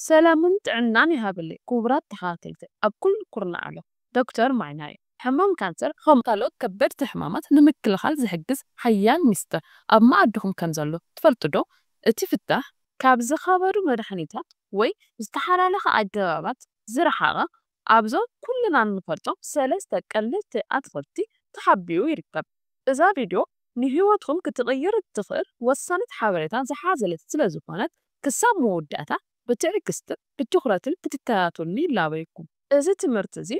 ሰላምን ጥዕናን ይሃበለይ ኩቡራት ተኸታተልቲ ኣብ ኩሉ ኩርናዕ ዓለም ዶክተር ማይና እየ ሕማም ካንሰር ኸም ካልኦት ከበድቲ ሕማማት ንምክልኻል ዝሕግዝ ሓያል ሚስጥር ኣብ መኣድኹም ከም ዘሎ ትፈልጡ ዶ እቲ ፍታሕ ካብ ዝኸበዱ መድሓኒታት ወይ ዝተሓላለኸ ኣገባባት ዝረሓቐ ኣብዞም ኩልና እንፈልጦም ሰለስተ ቀለልቲ ኣትኽልቲ ተሓቢኡ ይርከብ። እዛ ቪድዮ ንህይወትኩም ክትቕይር እትኽእል ወሳኒት ሓበሬታ ዝሓዘለት ስለዝኾነት ክሳብ መወዳእታ ብትዕግስትን ብትኹረትን ክትከታተሉኒ ይላበየኩም። እዚ ትምህርቲ እዚ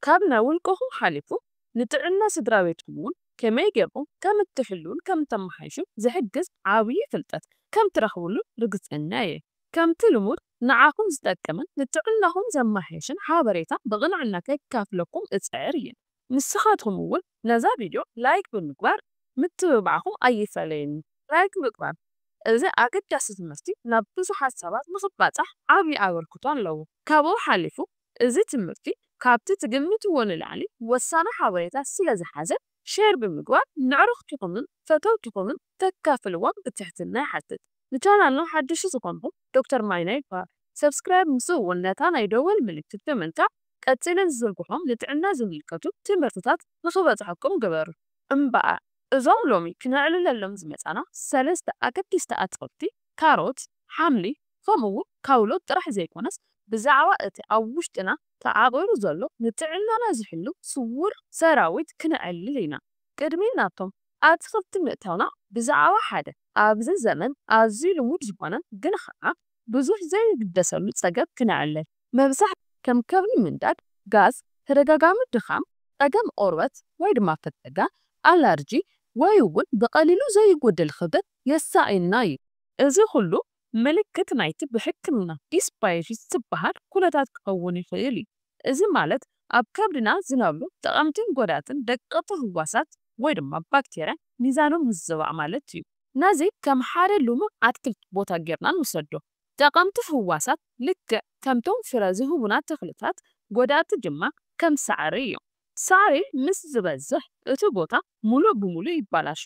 ካብ ናይ ውልቅኹም ሓሊፉ ንጥዕና ስድራቤትኩም እውን ከመይ ጌርኩም ከም እትሕልዉን ከም እተመሓይሹን ዝሕግዝ ዓብዪ ፍልጠት ከም ትረኽብሉ ርግጸኛ እየ። ከምቲ ልሙድ ንዓኹም ዝጠቅምን ንጥዕናኹም ዘማሕይሽን ሓበሬታ ብቕንዕና ከካፍለኩም እጽዕር እየ። ንስኻትኩም እውን ነዛ ቪድዮ ላይክ ብምግባር ምትብባዕኹም ኣይፈለየኒ። ላይክ ምግባር እዚ ኣገዳሲ ትምህርቲ ናብ ብዙሓት ሰባት ንኽባጻሕ ዓቢ ኣበርክቶ ኣለዎ። ካብኡ ሓሊፉ እዚ ትምህርቲ ካብቲ ትግምትዎ ንላዕሊ ወሳኒ ሓበሬታ ስለዝሓዘ ሼር ብምግባር ንዕርኽትኹምን ፈተውትኹምን ክተካፍልዎም ብትሕትና ይሓትት። ንቻናልና ሓደሽቲ ዝኾንኩም ዶክተር ማይና ይበሃል። ሰብስክራይብ ምስኡ ውን ነታ ናይ ደወል ምልክት ብምንካእ ቀጺለ ዝዝርግሖም ንጥዕና ዝምልከቱ ትምህርትታት ንኽበጽሐኩም ግበሩ። እምበኣር እዞም ሎሚ ክነዕልለሎም ዝመጻና ሰለስተ ኣገደስቲ ኣትኽልቲ ካሮት፣ ሓምሊ ከምኡ ውን ካውሎ ጥራሕ ዘይኮነስ ብዛዕባ እቲ ኣብ ውሽጥና ተዓቚሩ ዘሎ ንጥዕናና ዝሕሉ ስዉር ሰራዊት ክነዕልል ኢና። ቅድሚ ናብቶም ኣትኽልቲ ምእታውና ብዛዕባ ሓደ ኣብዚ ዘመን ኣዝዩ ልሙድ ዝዀነ ግን ኸኣ ብዙሕ ዘይግደሰሉ ጸገም ክነዕልል። መብዛሕትኡ ከም ከብኒ ምንዳድ፣ ጋዝ፣ ተደጋጋሚ ድኻም፣ ጸገም ቖርበት ወይ ድማ ፈተጋ፣ ኣለርጂ፣ ወይ'ውን ብቐሊሉ ዘይጐደል ኽብደት የሳቕየና እዩ። እዚ ዅሉ ምልክት ናይቲ ብሕክምና ዲስባዮሲስ ዝበሃል ኩነታት ክኸውን ይኽእል እዩ፣ እዚ ማለት ኣብ ከብድና ዝነብሩ ጠቐምትን ጎዳእትን ደቀቕቲ ህዋሳት ወይ ድማ ባክቴርያ ሚዛኖም ምዝባዕ ማለት እዩ። ነዚ ከም ሓደ ልሙዕ ኣትክልቲ ቦታ ጌርና ንውሰዶ። ጠቐምቲ ህዋሳት ልክዕ ከምቶም ፍረ ዝህቡና ተኽልታት፣ ጎዳእቲ ድማ ከም ሳዕሪ እዮም። ሳዕሪ ምስ ዝበዝሕ እቲ ቦታ ምሉእ ብምሉእ ይበላሾ፣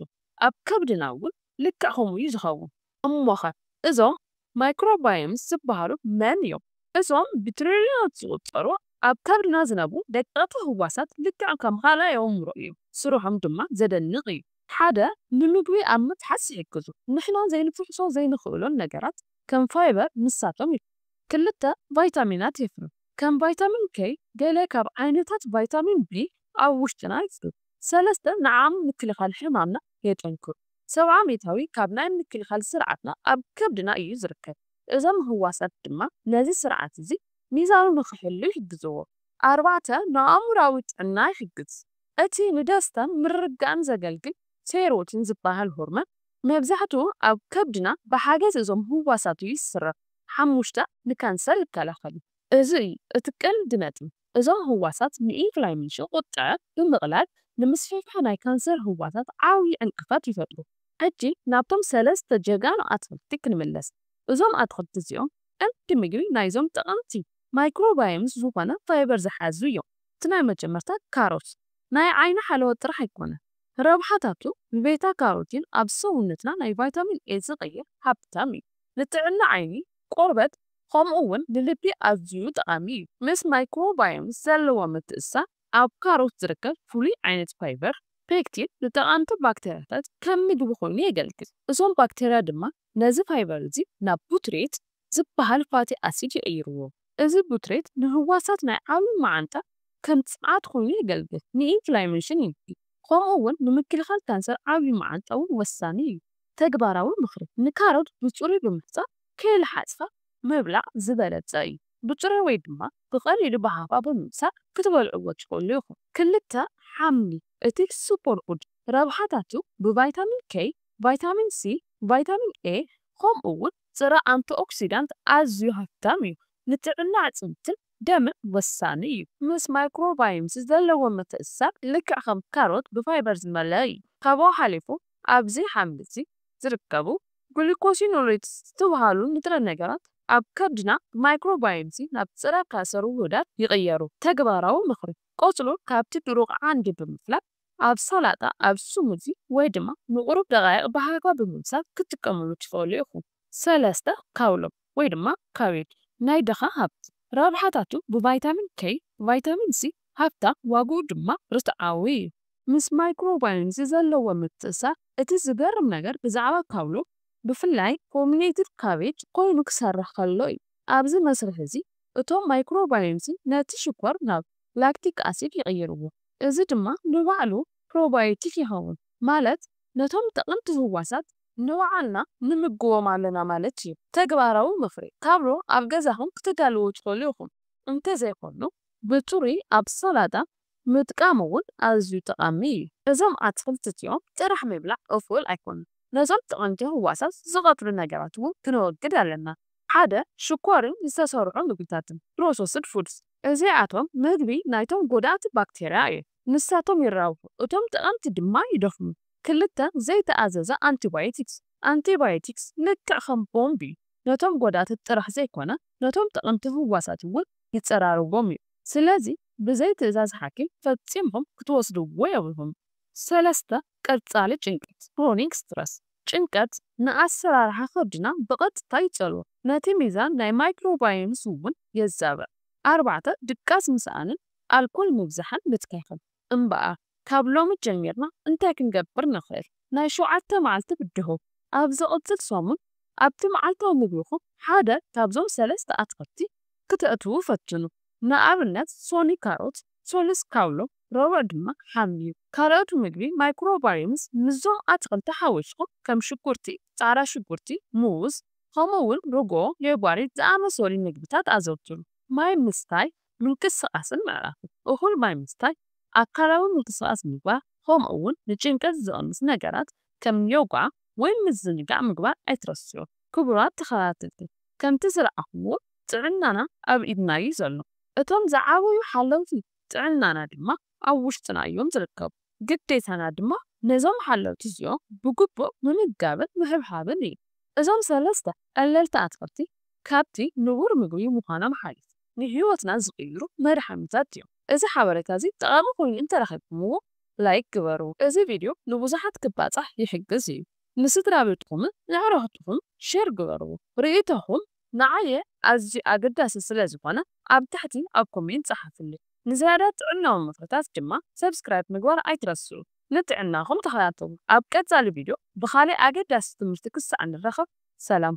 ኣብ ከብድና እውን ልክዕ ከምኡ እዩ ዝኸውን። እሞኸ እዞም ማይክሮባዮምስ ዝበሃሉ መን እዮም? እዞም ብትሪልዮናት ዝቑጸሩ ኣብ ከብድና ዝነብሩ ደቀቕቲ ህዋሳት ልክዕ ከም ኻልኣይ ኣእምሮ እዮም፣ ስርሖም ድማ ዘደንቕ እዩ። ሓደ፣ ንምግቢ ኣብ ምፍሓስ ይሕግዙ፣ ንሕና ዘይንፍሕሶ ዘይንኽእሎን ነገራት ከም ፋይበር ንሳቶም ይፍሕሱ። ክልተ፣ ቫይታሚናት የፍርዩ፣ ከም ቫይታሚን ኬይ፣ ገለ ካብ ዓይነታት ቫይታሚን ቢ ኣብ ውሽጥና ይፍርዩ። ሰለስተ፣ ንዓቕሚ ምክልኻል ሕማምና የጠንክሩ። ሰብዓ ሚእታዊ ካብ ናይ ምክልኻል ስርዓትና ኣብ ከብድና እዩ ዝርከብ። እዞም ህዋሳት ድማ ነዚ ስርዓት እዚ ሚዛኑ ንኽሕሉ ይሕግዝዎ። ኣርባዕተ፣ ንኣእምሮኣዊ ጥዕና ይሕግዝ። እቲ ንደስታን ምርግጋእን ዘገልግል ሴሮቲን ዝበሃል ሆርሞን መብዛሕትኡ ኣብ ከብድና ብሓገዝ እዞም ህዋሳት እዩ ዝስረፍ። ሓሙሽተ፣ ንካንሰር ይከላኸል እዩ። እዚ እዩ እቲ ቀንዲ ነጥቢ። እዞም ህዋሳት ንኢንፍላይሜሽን፣ ቁጥዐ፣ ብምቕላል ንምስፍሕፋሕ ናይ ካንሰር ህዋሳት ዓብዪ ዕንቅፋት ይፈጥሩ። ሕጂ ናብቶም ሰለስተ ጀጋኑ ኣትኽልቲ ክንምለስ። እዞም ኣትኽልቲ እዚኦም ቀንዲ ምግቢ ናይዞም ጠቐምቲ ማይክሮባዮምስ ዝኾነ ፋይበር ዝሓዙ እዮም። እቲ ናይ መጀመርታ ካሮት ናይ ዓይኒ ሓለዋ ጥራሕ ኣይኮነን። ረብሓታቱ ብቤታ ካሮቲን ኣብ ሰውነትና ናይ ቫይታሚን ኤ ዝቕይር ሃብታም እዩ። ንጥዕና ዓይኒ፣ ቆርበት፣ ኸምኡ ውን ንልቢ ኣዝዩ ጠቓሚ እዩ። ምስ ማይክሮባዮምስ ዘለዎ ምትእስሳር፣ ኣብ ካሮት ዝርከብ ፍሉይ ዓይነት ፋይበር፣ ፔክቲን፣ ንጠቓምቲ ባክተርያታት ከም ምግቢ ኾይኑ የገልግል። እዞም ባክተርያ ድማ ነዚ ፋይበር እዚ ናብ ቡትሬት ዝበሃል ፋቲ ኣሲድ ይቕይርዎ። እዚ ቡትሬት ንህዋሳት ናይ ዓቢ መዓንጣ ከም ጸዓት ኾይኑ የገልግል፣ ንኢንፍላሜሽን ይንኪ፣ ኸምኡ ውን ንምክልኻል ካንሰር ዓቢ መዓንጣ ውን ወሳኒ እዩ። ተግባራዊ ምኽሪ፣ ንካሮት ብጽሩይ ብምሕጻብ ከይለሓጽካ ምብላዕ ዝበለጸ እዩ። ብጥሪኡ ወይ ድማ ብቐሊሉ ብሃፋ ብምምሳጥ ክትበልዕዎ ትኽእሉ ኢኹም። ክልተ፣ ሓምሊ፣ እቲ ሱፐርፉድ ረብሓታቱ ብቫይታሚን K፣ ቫይታሚን C፣ ቫይታሚን A፣ ከምኡ'ውን ጽረ ኣንቲኦክሲዳንት ኣዝዩ ሃፍታም እዩ። ንጥዕና ኣዕጽምትን ደምን ወሳኒ እዩ። ምስ ማይክሮባዮምስ ዘለዎ ምትእስሳር ልክዕ ከም ካሮት ብፋይበር ዝመልአ እዩ። ካብኡ ሓሊፉ ኣብዚ ሓምሊ'ዚ ዝርከቡ ግሉኮሲኖሌትስ ዝተብሃሉ ንጥረ ነገራት ኣብ ከብድና ብማይክሮባዮምሲ ናብ ፀረ-ካንሰር ውሁዳት ይቕየሩ። ተግባራዊ ምኽሪ፣ ቆፅሉ ካብቲ ድሩቕ ዓንዲ ብምፍላጥ ኣብ ሰላጣ፣ ኣብ ስሙዚ ወይ ድማ ንቑሩብ ደቓይቕ ብሃፋ ብምብሳል ክትጥቀምሉ ትኽእሉ ኢኹም። ሰለስተ፣ ካውሎ። ወይ ድማ ካቤጅ። ናይ ድኻ ሃብቲ። ረብሓታቱ ብቫይታሚን ኬይ፣ ቫይታሚን ሲ ሃብታም ዋግኡ ድማ ርትዓዊ እዩ። ምስ ማይክሮባዮም'ዚ ዘለዎ ምትእስሳር እቲ ዝገርም ነገር ብዛዕባ ካውሎ ብፍላይ ፎሚኔትድ ካቤጅ ኮይኑ ክሰርሕ ከሎ እዩ። ኣብዚ መስርሕ እዚ እቶም ማይክሮባዮም'ዚ ነቲ ሽኮር ናብ ላክቲክ ኣሲድ ይቕይርዎ እዚ ድማ ንባዕሉ ፕሮባዮቲክ ይኸውን ማለት ነቶም ጠቐምቲ ህዋሳት ንባዕልና ንምግቦም ኣለና ማለት እዩ። ተግባራዊ ምኽሪ፣ ካብሎ ኣብ ገዛኹም ክተዳልዉ ትኽእሉ ኢኹም፣ እንተዘይኮይኑ ብጽሩይ ኣብ ሰላጣ ምጥቃም እውን ኣዝዩ ጠቓሚ እዩ። እዞም ኣትኽልቲ እዚኦም ጥራሕ ምብላዕ እኹል ኣይኮነን፣ ነዞም ጠቐምቲ ህዋሳት ዝቐትሉ ነገራት እውን ክነወግድ ኣለና፣ ሓደ ሽኮርን ዝተሰርዑ ምግብታትን፣ Processed Foods፣ እዚኣቶም ምግቢ ናይቶም ጎዳእቲ ባክተርያ እዮም፣ ንሳቶም ይራብሑ እቶም ጠቐምቲ ድማ ይደኽሙ። ክልተ ዘይተኣዘዘ ኣንቲባዮቲክስ። ኣንቲባዮቲክስ ልክዕ ከም ቦምብ እዩ፣ ነቶም ጎዳእቲ ጥራሕ ዘይኮነ ነቶም ጠቐምቲ ህዋሳት እውን ይጸራርጎም እዩ። ስለዚ ብዘይ ትእዛዝ ሓኪም ፈጺምኩም ክትወስድዎ የብልኩም። ሰለስተ፣ ቀጻሊ ጭንቀት፣ Chronic Stress። ጭንቀት ንኣሰራርሓ ከብድና ብቐጥታ ይጸልዎ፣ ነቲ ሚዛን ናይ ማይክሮባዮምስ እውን የዛብዕ። ኣርባዕተ፣ ድቃስ ምስኣንን ኣልኮል ምብዛሕን ምትካኽን። እምበኣር ካብ ሎሚ ጀሚርና እንታይ ክንገብር ንኽእል? ናይ ሸውዓተ መዓልቲ ብድሆ፣ ኣብ ዝቕጽል ሰሙን ኣብቲ መዓልታዊ ምግብኹም ሓደ ካብዞም ሰለስተ ኣትክልቲ ክተእትዉ ፈትኑ፣ ንኣብነት ሶኒ ካሮት፣ ሰሉስ ካውሎ፣ ረቡዕ ድማ ሓምሊ። ካልኦት ምግቢ ማይክሮባዮምስ ምስዞም ኣትክልቲ ሓዊስኩም ከም ሽጉርቲ፣ ጻዕዳ ሽጉርቲ፣ ሙዝ፣ ከምኡ'ውን ርግኦ፣ ሌባሪት ዝኣመሰሉ ምግብታት ኣዘውትሩ። ማይ ምስታይ ምንቅስቓስን ምዕራፍን እኹል ማይ ምስታይ፣ ኣካላዊ ምንቅስቓስ ምግባር ከምኡ'ውን ንጭንቀት ዝቕንሱ ነገራት ከም ዮጋ ወይ ምዝንጋዕ ምግባር ኣይትረስዑ። ክቡራት ተኸታተልቲ ከምቲ ዝረኣኹምዎ ጥዕናና ኣብ ኢድና'ዩ ዘሎ፣ እቶም ዝዓበዩ ሓለውቲ ጥዕናና ድማ ኣብ ውሽጥና'ዮም ዝርከቡ። ግዴታና ድማ ነዞም ሓለውቲ እዚኦም ብግቡእ ምምጋብን ምሕብሓብን እዩ። እዞም ሰለስተ ቀለልቲ ኣትኽልቲ ካብቲ ንቡር ምግቢ ምዃኖም ሓሊፉ ንህይወትና ዝቕይሩ መድሓኒታት እዮም። እዚ ሓበሬታ እዚ ጠቓሚ ኮይኑ እንተረኺብኩምዎ ላይክ ግበሩ። እዚ ቪድዮ ንብዙሓት ክባፃሕ ይሕግዝ እዩ። ንስድራቤትኹምን ንኣዕሩኽትኹም ሼር ግበርዎ። ርእይቶኹም ንዓየ ኣዝዩ ኣገዳሲ ስለ ዝኾነ ኣብ ታሕቲ ኣብ ኮሜንት ጸሓፉለይ። ንዝያዳ ጥዕናዊ ምኽርታት ድማ ሰብስክራይብ ምግባር ኣይትረስዑ። ንጥዕናኹም ተኸታተሉ። ኣብ ቀጻሊ ቪድዮ ብኻልእ ኣገዳሲ ትምህርቲ ክሳዕ ንራኸብ ሰላም።